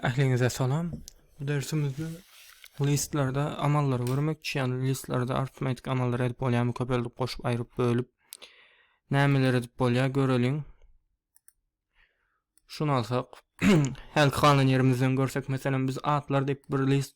Ähliňize salam. Bu dersimizde listlerde amallary görmekçi, ýagny listlerde artmetik amallary edip bolýarmy, köpeldip, goşup, aýryp, bölüp nämeler edip bolýar göreliň. Şuny alsak, hälki galan ýerimizden görsek, meselem biz atlar diýip bir list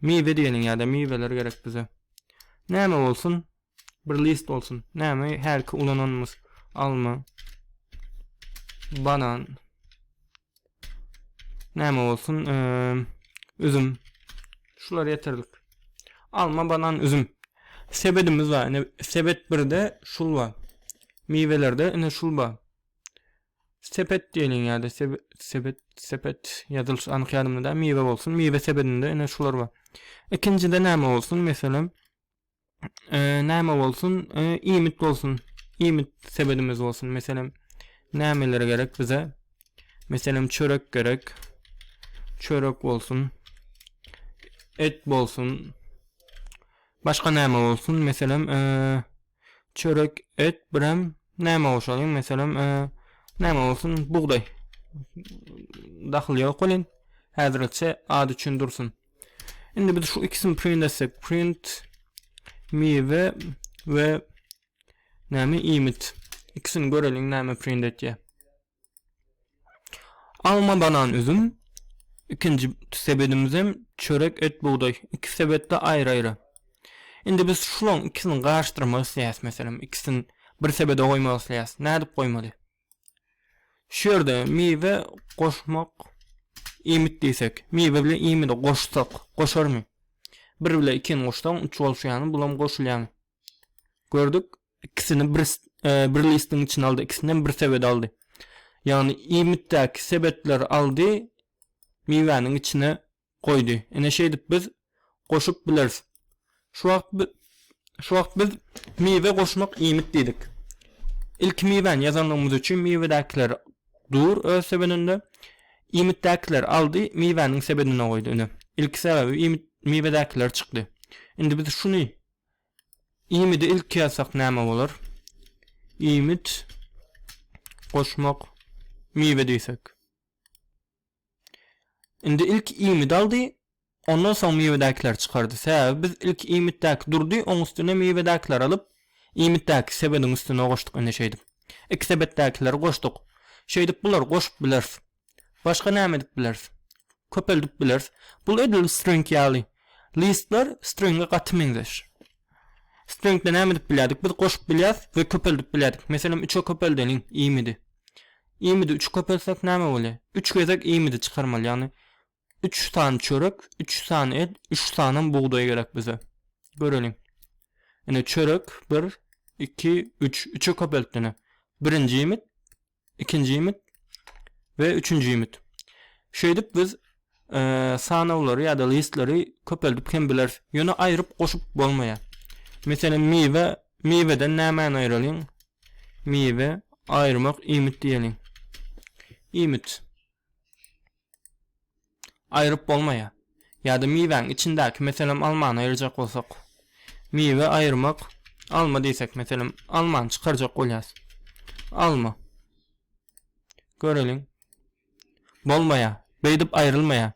Miwe diýeniň ýa-da miweler gerek bize. Näme bolsun? Bir list bolsun. Näme hälki ulananymyz? Alma. Banan. Näme bolsun? Eee, üzüm. Şular ýeterlik. Alma, banan, üzüm. Sebedimiz bar. Ine sebet 1-de şul bar. Miwelerde ine şul bar. Sepet diýilýän ýa-da sebet, sepet ýazylyşy anyk ýadymda däl, miwe bolsun, miwe sebedinde ine şular bar. Ikinjide näme bolsun, meselem, näme bolsun, iýmit bolsun, iýmit sebedimiz bolsun, meselem, nämeler gerek bize? Meselem, çörek gerek, çörek bolsun, et bolsun, başga näme bolsun, meselem, çörek, et, birem näme goşalyň, meselem, näme bolsun, bugdaý. Dahyly ýok welin, häzirlikçe at üçin dursun. Indi biz şu ikisini print etsek, print miwe we näme iýmit. Ikisini göreliň näme print etýär. Alma, banan, üzüm. Ikinji sebedimizem çörek, et, bugdaý. Iki sebetde aýry-aýry. Indi biz şulaň ikisini garyşdyrmak isleýäs meselem. Ikisini bir sebede goýmak isleýäs. Nädip goýmaly? Şu ýerde miwe goşmak iýmit diýsek, miwe bilen iýmidi goşsak, goşarmy? Bir bilen ikini goşsaň, üç bolşýarmy, bulam goşulýarmy? Gördük, Ikisini bir bir listiň içine aldy. Ikisinden bir sebet aldy. Ýagny iýmitdäki sebetleri aldy, miwäniň içine goýdy. Ine şeýdip biz goşup bileris. Şu wagt biz şu wagt biz miwe goşmak iýmit diýdik. Ilki miwäni ýazanlygymyz üçin miwedäkiler dur öz sebedinde. Iýmitdäkiler aldy, miwäniň sebedine goýdy. Ine, ilki sebäbi iýmit miwedäkiler çykdy. Indi biz şuny Iýmiti ilki ýazsak näme bolar? Iýmit goşmak miwe diýsek. Indi ilk iýmit aldy, ondan soň miwedäkileri çykardy. Sebäbi biz ilk iýmitdäki durdy, oň üstüne miwedäkileri alyp, iýmitdäki sebediň üstüne goşduk indi şeýdip. Iki sebetdäkileri goşduk. Şeýdip bulary goşup bileris. Başga näme edip bileris? Köpeldip bileris. Bul edil string ýaly. Listler stringe gaty meňzeş. Stringde näme edip bilýärdik? Biz goşup bilýäs we köpeldip bilýärdik. Meselem, 3-e köpeldeliň imidi. Imidi 3 köpeltsek näme bolýar? 3 gezek imidi çykarmaly, ýagny Üç sany çörek, üç sany et, üç sanam bugdaý gerek bize. Göreliň. Ine çörek bir, iki, üç. Üçe köpeltdi ine. Birinji iýmit, ikinji iýmit we üçünji iýmit. Şeýdip biz e, sanaglary ýa-da listleri köpeldip hem bileris. Ýöne aýryp goşup bolmaýar. Meselem miwe, miweden nämäni aýralyň? Miwe aýyrmak iýmit diýeliň. Iýmit. aýryp bolmaýar. Ýa-da miwäň içindäki, meselem, almany aýyrjak bolsak. Miwe aýyrmak, alma diýsek, meselem, almany çykarjak bolýas. Alma. Göreliň. Bolmaýar. Beýdip aýrylmaýar.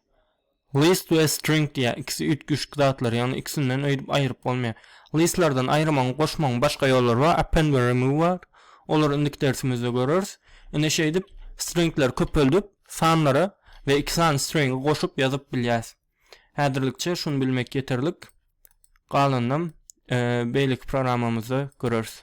List we string diýýär. Ikisi üýtgeşik zatlar, ýagny ikisinden öýdüp aýryp bolmaýar. Listlerden aýyrmagyň, goşmagyň başga ýollary bar. Append we remove bar. Olary indiki dersimizde göreris. Ine şeýdip, stringleri köpeldip, Sanlary we iki sany stringi goşup ýazyp bilýäs. Häzirlikçe şuny bilmek ýeterlik. Galanynam beýleki programmamyzda göreris.